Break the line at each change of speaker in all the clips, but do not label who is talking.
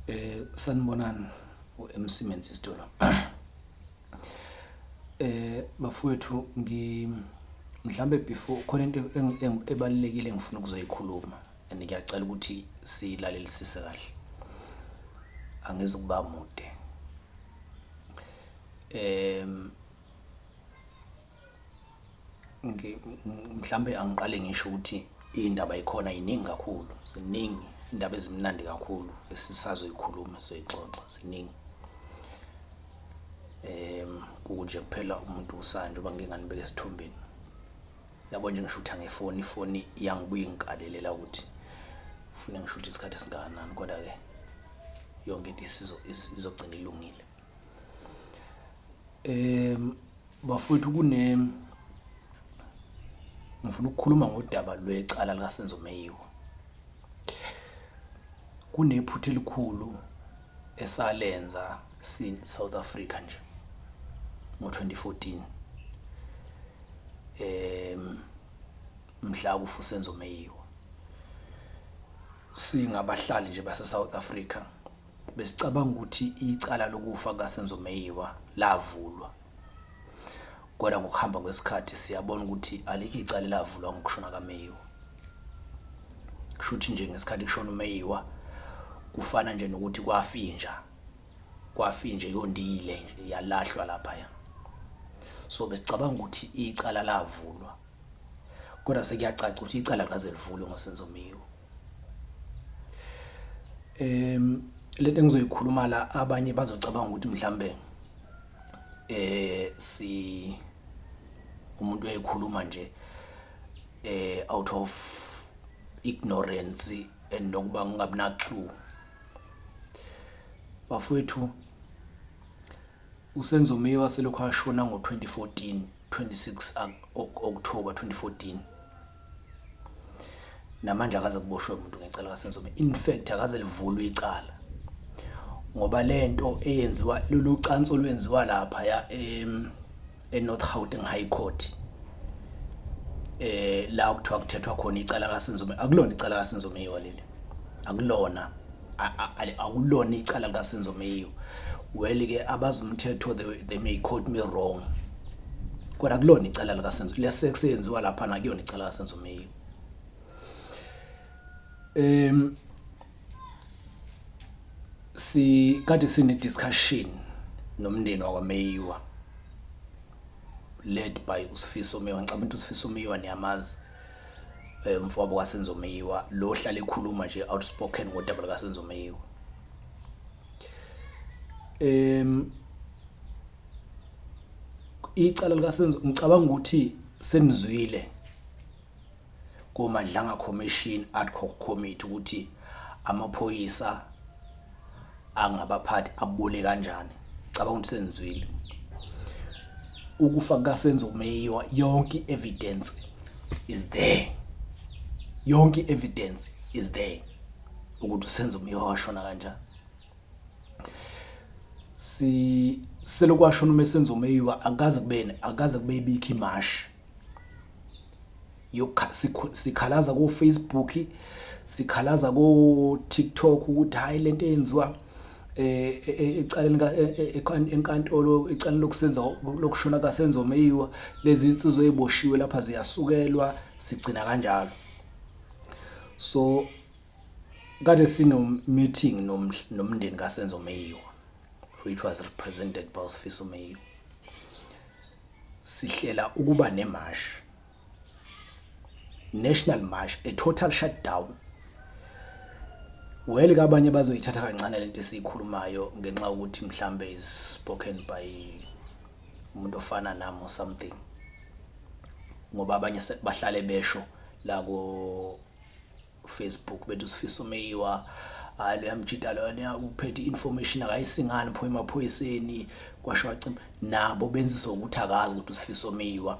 Eh sanibonani uMC Menzi Sitolo. Eh bafowethu ngi mhlambe before khona into ebalekile ngifuna ukuzoyikhuluma and ngiyacela ukuthi silalelisise kahle. Angizukuba mude. Em mhlambe angiqale ngisho ukuthi iy'ndaba yikhona yiningi kakhulu ziningi iy'ndaba ezimnandi kakhulu esisazoyikhuluma soyixoxa ziningi um kukunje kuphela umuntu usana njengoba ngike nganibeka esithombeni yabo nje ngisho ukuthi angefoni ifoni iyangibuye ingikalelela ukuthi fune ngisho ukuthi isikhathi esingakanani kodwa-ke yonke into izogcina ilungile um Bafowethu kune ngifuna ukukhuluma ngodaba lwecala likaSenzo Meyiwa. Kunephutha elikhulu esalenza si South Africa nje ngo-2014 em mhla kufa uSenzo Meyiwa singabahlali nje base South Africa Besicabanga ukuthi icala lokufa kaSenzo Meyiwa lavulwa kodwa ngokuhamba kwesikhathi siyabona ukuthi alikho icala elavulwa ngokushona kaMeyiwa. Kusho ukuthi nje ngesikhathi kushona uMeyiwa kufana nje nokuthi kwafinja kwafinje yondile nje yalahlwa lapha ya. So besicabanga ukuthi icala lavulwa. kodwa sekuyacaca ukuthi icala ngaze livulwe ngosenzo miwo em lento engizoyikhuluma la abanye bazocabanga ukuthi mhlambe eh si umuntu uyayikhuluma nje eh out of ignorance and nokuba ngingabina clue bafowethu USenzomiwa selokhu ashona ngo-2014, 26 October 2014, namanje akaze kuboshwe muntu ngecala kaSenzomiwa. In fact akaze livulwe icala ngoba lento eyenziwa lolu cansi olwenziwa lapha ya em eNorth Gauteng High Court eh la okuthiwa kuthethwa khona icala kaSinzome akulona icala kaSinzome yiwa leli akulona akulona icala likaSinzome yiwa well ke abazumthetho they, they may quote me wrong kodwa kulona icala likaSinzome lesex yenziwa lapha na kuyona icala kaSinzome yiwa Em si kade sine discussion nomndeni wakwa Meyiwa led by uSifiso Meyiwa ngicabanga ukuthi uSifiso Meyiwa niyamazi eh, umfowabo kaSenzo Meyiwa lo ohlale ekhuluma nje outspoken ngodaba likaSenzo Meyiwa em icala likaSenzo ngicabanga ukuthi senizwile koMadlanga Commission ad hoc Committee ukuthi amaphoyisa angabaphathi abole kanjani cabanga ukuthi senzwile ukufa kukasenzo kumeyiwa yonke evidence is there yonke evidence is there ukuthi usenzo kumeyiwa washona kanjani si selokwashona uma senzo meyiwa akaze kubene akaze kube ibikho imashi sikhalaza ko-facebook sikhalaza ko-tiktok ukuthi hhayi le nto eyenziwa um eh, eh, eh, ecaleni enkantolo ecaleni lokusenza lokushona kasenzo meyiwa lezi nsizwa ey'boshiwe lapha ziyasukelwa sigcina kanjalo so kade sino-meeting nomndeni kasenzo meyiwa which was represented by usifiso meyiwa Sihlela ukuba nemashi, national march, a total shutdown. Well ke abanye bazoyithatha kancane lento esiyikhulumayo ngenxa ukuthi mhlambe is spoken by umuntu ofana nami or something. Ngoba abanye bahlale besho la ko Facebook bethu sifisa umeyiwa hayi leyamjita lona uphethe information akayisingani pho emaphoyiseni kwasho wacima nabo benzisa ukuthi akazi ukuthi usifiso miwa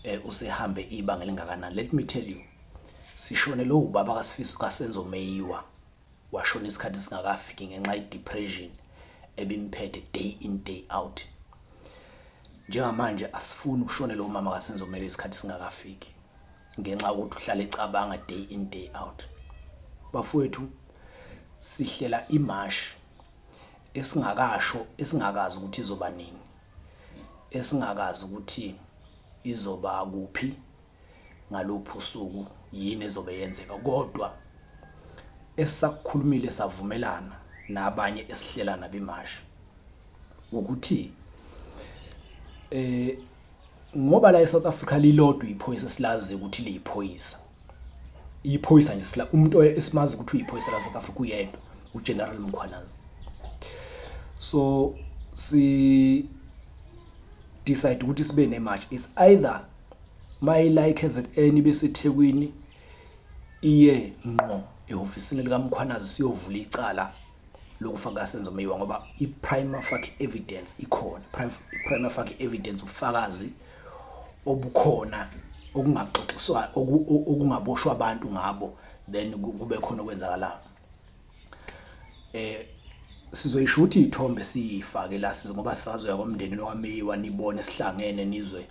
eh usehambe ibanga lingakanani let me tell you sishone lo ubaba kasifiso kasenzo meyiwa washona isikhathi singakafiki ngenxa yedepression ebimphethe day in day out njengamanje asifuni ukushone lo mama kasenzo meyiwa isikhathi singakafiki ngenxa yokuthi uhlale ecabanga day in day out bafowethu sihlela imashi esingakasho esingakazi ukuthi izoba nini esingakazi ukuthi izoba kuphi ngalophu usuku yini ezobe yenzeka kodwa esakukhulumile savumelana nabanye esihlela nabimashi ukuthi eh ngoba la eSouth Africa lilodwa iphoyisa silazi ukuthi liyiphoyisa iphoyisa nje sila umuntu esimazi ukuthi uyiphoyisa la South Africa uyedwa uGeneral Mkhwanazi so si decide ukuthi sibe ne march it's either my like as at any besethekwini iye ngqo ehofisini likaMkhwanazi siyovula icala lokufa kaSenzo Meyiwa ngoba i-prima facie evidence ikhona i-prima facie evidence ubufakazi obukhona okungaxoxiswa okungaboshwa abantu ngabo then kube khona okwenzakalayo eh sizoyisho ukuthi ithombe siyifake la size ngoba sisazoya komndeni lowameyiwa nibone sihlangene nizwe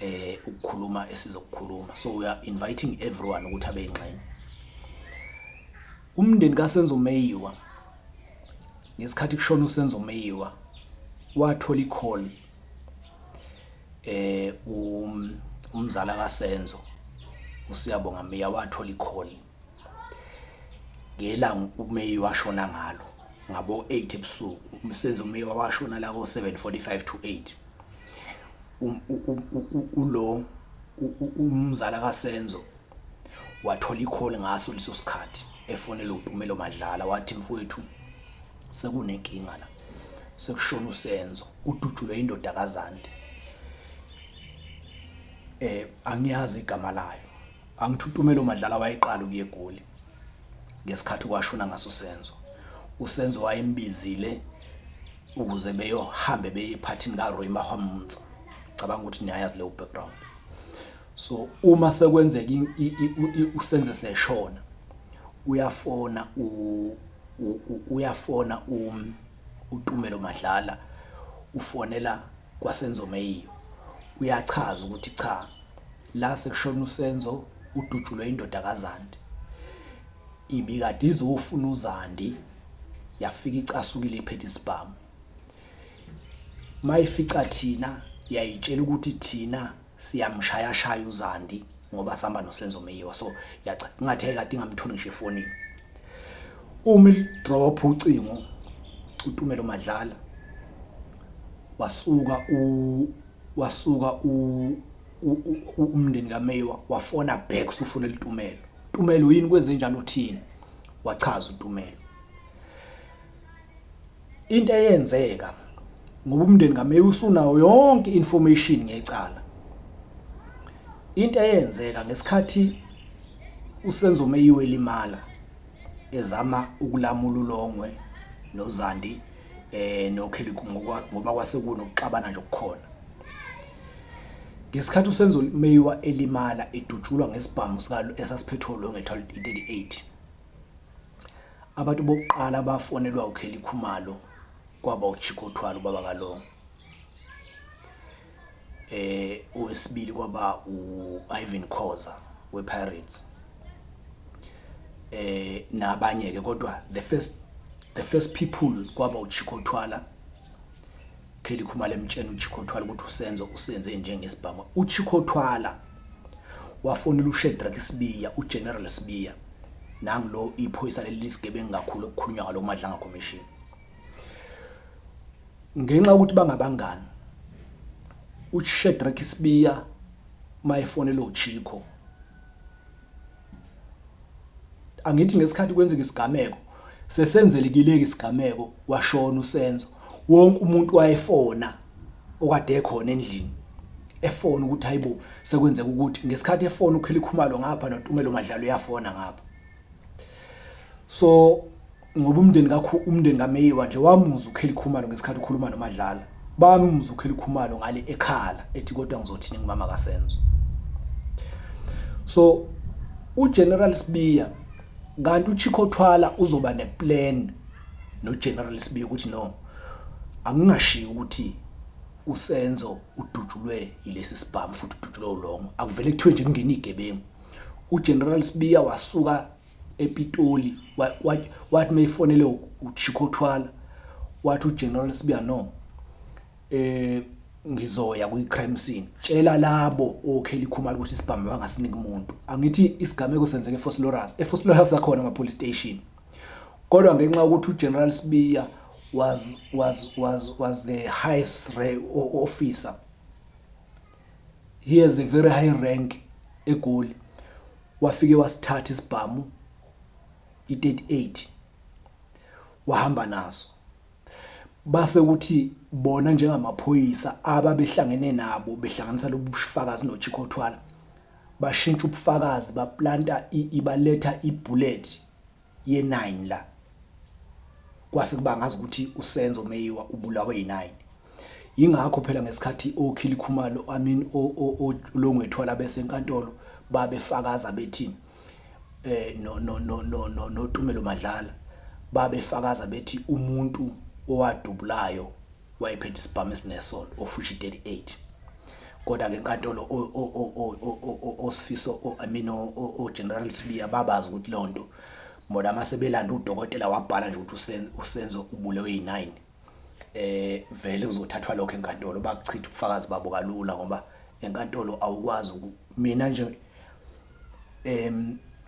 eh ukukhuluma esizokukhuluma so we are inviting everyone ukuthi abe ingxenye umndeni kaSenzo Meyiwa ngesikhathi kushona uSenzo Meyiwa wathola icall eh um umzala kaSenzo usiyabonga Meya wathola icall ngelanga umeyi washona ngalo ngabo-8 ebusuku umsebenzi umeyi washona la ko-745 to 8 um, ulo umzala kasenzo wathola ikholi ngaso leso sikhathi efonela umpumelo madlala wathi mfowethu sekunenkinga la sekushona usenzo udutshulwe indoda kazande eh angiyazi igama layo Angithi uTumelo Madlala wayeqala ukuya eGoli ngesikhathi kwashona ngaso Senzo. USenzo wayembizile ukuze beyohambe beye ephathini kaRoy Mahwamunza. Cabanga ukuthi niyayazi leyo background. So uma sekwenzeka uSenzo seshona uyafona uyafona um, uTumelo Madlala ufonela kwaSenzo Meyiyo uyachaza ukuthi cha La sekushone uSenzo udutshulwe indoda kaZandi. Ibikade izofuna uZandi yafika icasukile iphethe isibhamu. Mayifica thina yayitshela ukuthi thina siyamshaya shaya uZandi ngoba sihamba noSenzo Meyiwa so yacha ngathi ayikade ingamtholi ngisho efonini. Uma idrop ucingo uTumelo Madlala wasuka u wasuka u umndeni kaMeyiwa wafona back usufuna litumelo Tumelo yini kwenze njani uthini wachaza uTumelo into eyenzeka ngoba umndeni kaMeyiwa usunawo yonke information ngecala into eyenzeka ngesikhathi usenzo Meyiwa elimala ezama ukulamula ulongwe noZandi eh noKheliku ngoba kwase kunokuxabana nje okukhona Ngesikhathi uSenzo Meyiwa elimala edutshulwa ngesibhamu sikalo esasiphethwe uLongethwa i-38 abantu bokuqala bafonelwa uKelly Khumalo kwaba uChiko Thwala ubaba kaLongo eh owesibili kwaba uIvan Khoza wePirates eh nabanye ke kodwa the first the first people kwaba uChiko Thwala Kelly Khumalo emtshena uChikothwala ukuthi uSenzo usenze njengesibhamu. UChikothwala wafonela uShedrack Sibiya, uGeneral Sibiya. Nangu lo iphoyisa leli lisigebengu kakhulu okukhulunywa ngalo Madlanga Commission. Ngenxa yokuthi bangabangani uShedrack Sibiya mayefonela uChiko angithi ngesikhathi kwenzeka isigameko sesenzelekileke isigameko washona usenzo wonke umuntu wayefona okade ekhona endlini efona ukuthi hayibo sekwenzeka ukuthi ngesikhathi efona ukhelikhumalo ngapha notumelo madlalo yafona ngapha so ngoba umndeni kakho umndeni kaMeyiwa nje wamuza uKelly Khumalo ngesikhathi ukhuluma noMadlala bamuza uKelly Khumalo ngale ekhala ethi kodwa ngizothini ngumama kaSenzo so uGeneral Sibiya kanti uChiko Thwala uzoba neplan noGeneral Sibiya ukuthi no angingashiyi ukuthi uSenzo udutshulwe yilesi sibhamu futhi udutshulwe ulongo akuvele kuthiwe nje kungena igebengu uGeneral Sibiya wasuka ePitoli wathi meyifonele uChicco Thwala wathi uGeneral Sibiya no eh ngizoya kwi-crime scene tshela labo okheli khumalo ukuthi isibhamu bangasiniki umuntu angithi isigameko senzeke eFoslorus eFoslorus akhona ama police station kodwa ngenxa ukuthi uGeneral Sibiya was was was was the highest officer he has a very high rank egoli wafike wasithatha isibhamu i-38 wahamba naso base kuthi bona njengamaphoyisa ababehlangene nabo behlanganisa lobufakazi nochikhothwala bashintsha ubufakazi baplanta ibaletha ibullet ye-9 la kwase kuba ngazi ukuthi uSenzo Meyiwa ubulawe yi-9 yingakho phela ngesikhathi okhili khumalo i mean olongwethwala besenkantolo babefakaza bethi eh no no no no no notumelo madlala babefakaza bethi umuntu owadubulayo wayephethe isibhamu esinesolo ofushi 38 kodwa ke inkantolo osifiso i mean o general Sibiya babazi ukuthi lonto bona mase belanda udokotela wabhala nje ukuthi usenzo ubulewe yi9 eh vele kuzothathwa lokho enkantolo bakuchitha ubufakazi babo kalula ngoba enkantolo awukwazi mina nje em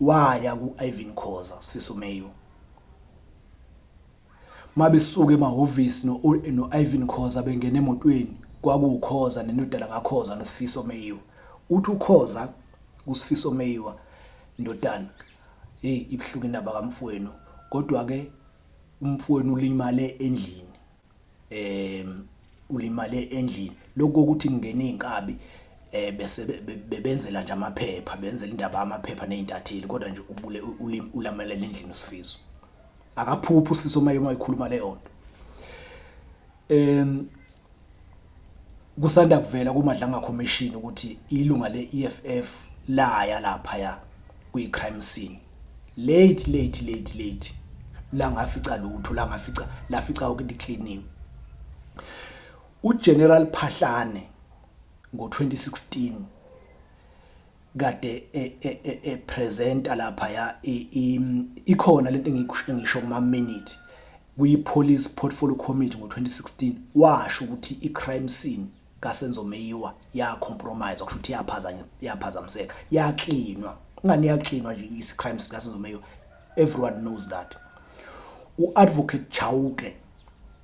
waya ku-Ivan Khoza Sifiso Mayo mabesuke emahhovisi no-Ivan Khoza bengena emotweni kwakuwukhoza nendodana kakhoza nosifiso meyiwa uthi ukhoza kusifiso meyiwa ndodana hey ibuhlungu indaba kamfowenu kodwa-ke umfowenu ulimale endlini em ulimale endlini lokho ukuthi kungena izinkabi eh bese bebenzela nje amaphepha benzela indaba amaphepha nezintatheli kodwa nje ubule ulamela endlini usifiso akaphuphi usifiso uma yoma ikhuluma le yonto em kusanda kuvela kumadlanga commission ukuthi ilunga le EFF laya lapha ya kwi crime scene Late late late late la ngafica lutho la ngafica la fica konke icleaniwe. UGeneral Phahlane ngo-2016 kade e, e, e, epresenta lapha ya ikhona lento engisho kuma minute kwi police portfolio committee ngo-2016 washo ukuthi i crime scene kaSenzo Meyiwa ya compromise okusho ukuthi yaphazanya yaphazamiseka ya cleanwa ngani ya cleanwa nje isi crime sika Senzo Meyiwa everyone knows that u advocate Chauke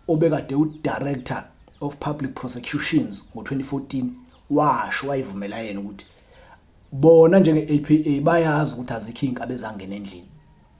obekade u director of public prosecutions ngo2014 washo wayivumela yena ukuthi bona njenge APA bayazi ukuthi azikho inkabe zangena endlini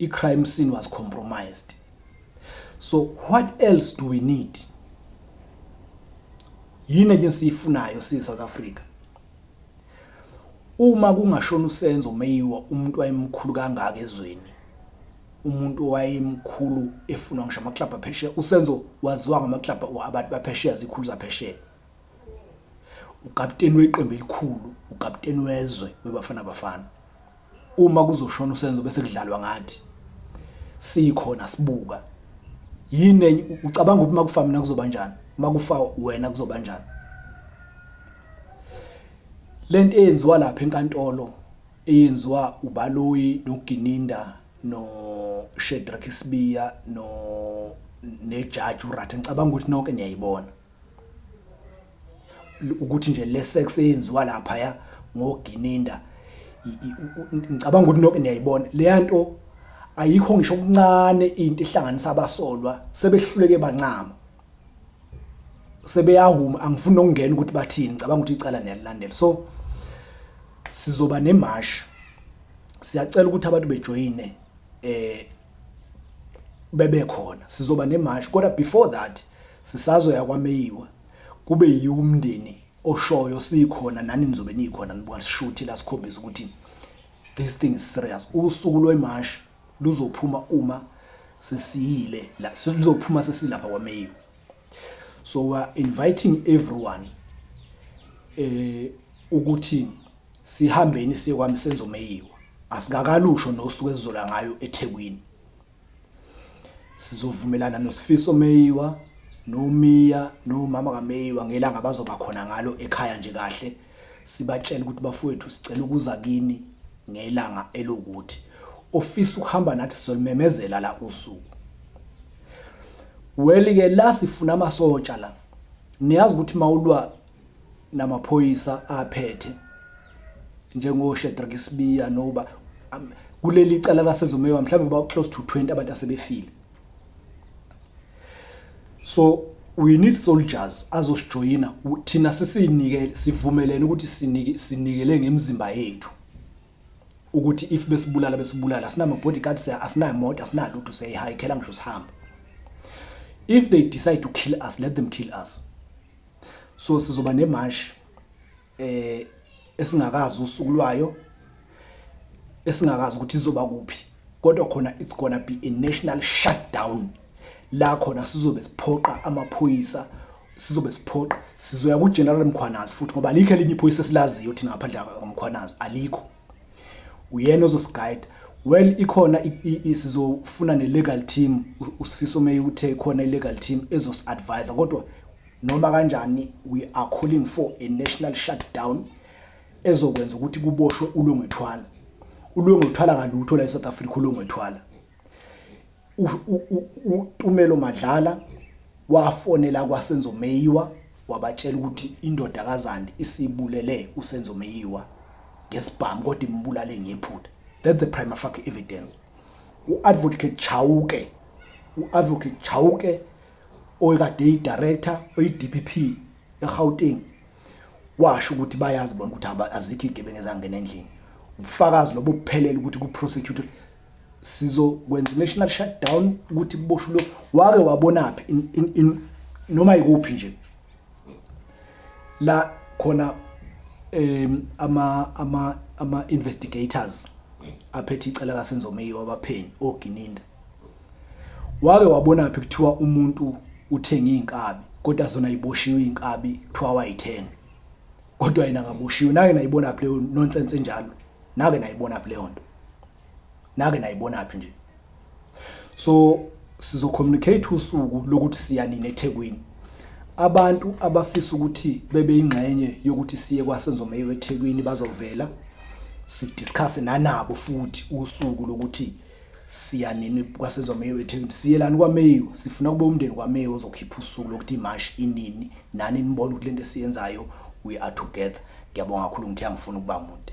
I crime scene was compromised. So what else do we need? Yini nje siyifunayo si South Africa? Uma kungashona usenzo meyiwa umuntu wayemkhulu kangaka ezweni. umuntu wayemkhulu efunwa ngisho amaklabhu aphesheya usenzo waziwa ngamaklabhu abantu baphesheya zikhulu zaphesheya Ukapteni weqembu elikhulu, ukapteni wezwe weBafana Bafana. Uma kuzoshona uSenzo bese kudlalwa ngathi. Sikhona sibuka. Yini ucabanga ukuthi makufa mina kuzoba kanjani? Makufa wena kuzoba kanjani? Lento eyenziwa lapha enkantolo eyenziwa uBaloyi noGininda no Shedrack Sibiya no nejaji uRatha ngicabanga ukuthi nonke niyayibona ukuthi nje le sex eyenziwa lapha ya ngogininda ngicabanga ukuthi nonke niyayibona leya nto ayikho ngisho okuncane into ehlanganisa abasolwa sebehluleke bancama sebeyahuma angifuni nokungena ukuthi bathini ngicabanga ukuthi icala niyalilandela so sizoba nemash siyacela ukuthi abantu bejoyine eh bebekhona sizoba nemashi kodwa before that sisazoya kwameyiwa kube yiwo umndeni oshoyo sikhona nani nizobe nikhona nibuka sishuthi la sikhombisa ukuthi this thing is serious usuku lwemashi luzophuma uma sesiyile la sizophuma sesilapha kwameyiwa so we are inviting everyone eh ukuthi sihambeni siye kwamsenzo meyiwa asingakalusho nosuku esizola ngayo eThekwini sizovumelana nosifiso meyiwa nomiya nomama kameyiwa ngelanga bazoba khona ngalo ekhaya nje kahle Sibatshele ukuthi, Bafowethu, sicela ukuza kini ngelanga elukuthi. Ofisa ukuhamba nathi sizolumemezela la usuku. Well ke la sifuna amasotsha la. Niyazi ukuthi mawulwa namaphoyisa aphethe njengo Shedrack Sibiya noba kuleli cala lasezomewa mhlawumbe ba close to 20 abantu asebefile. so we need soldiers azosijoyina thina sisinike sivumelene ukuthi sinike sinikele ngemizimba yethu ukuthi if besibulala besibulala asinama bodyguard asinayo motor asinalutho seyihayikhela ngisho sihamba if they decide to kill us let them kill us so sizoba nemashi eh esingakazi usuku lwayo esingakazi ukuthi izoba kuphi kodwa khona it's gonna be a national shutdown la khona sizobe siphoqa amaphoyisa sizobe siphoqa sizoya ku General Mkhwanazi futhi ngoba alikho elinye iphoyisa esilaziyo thina ngaphandle kwa Mkhwanazi alikho uyena ozosiguide well ikhona sizofuna ne legal team usifiso meyi uthe khona i legal team ezosi advise kodwa Noma kanjani we are calling for a national shutdown ezokwenza ukuthi kuboshwe ulongethwala. Ulongethwala kalutho la eSouth Africa ulongethwala. uTumelo Madlala wafonela kwaSenzo Meyiwa wabatshela ukuthi indoda kaZandi isibulele uSenzo Meyiwa ngesibhamu kodwa imbulale ngephutha that's the prima facie evidence uadvocate Chauke uadvocate Chauke oyekade eyidirector oyi-dpp egauteng washo ukuthi bayazi bona ukuthi azikho iy'gebengu ezangena endlini ubufakazi lobo buphelele ukuthi ku-prosecutor sizokwenza i-national shutdown ukuthi kuboshwe lo wake wabonaphi noma yikuphi nje la khona um ama ama ama investigators aphethe icala kaSenzo Meyiwa abaphenyi oGininda Wake wabonaphi kuthiwa umuntu uthenga iy'nkabi kodwa zona yiboshiwe iy'nkabi kuthiwa wayithenga kodwa yena ngaboshiwe nake nayibona phi leyo nonsense enjalo nake nayibona phi leyo nto nake nayibona phi nje so sizocommunicate usuku lokuthi siya nini eThekwini abantu abafisa ukuthi bebe ingxenye yokuthi siye kwasenzo meyo eThekwini bazovela sidiscuss nanabo futhi usuku lokuthi siya nini kwasizwa meyiwe ethekwini siyelani kwameyiwe sifuna kube umndeni kwameyiwe ozokhipha usuku lokuthi imashi inini nani nibone ukuthi lento esiyenzayo we are together ngiyabonga kakhulu ngithe angifuni ukuba mude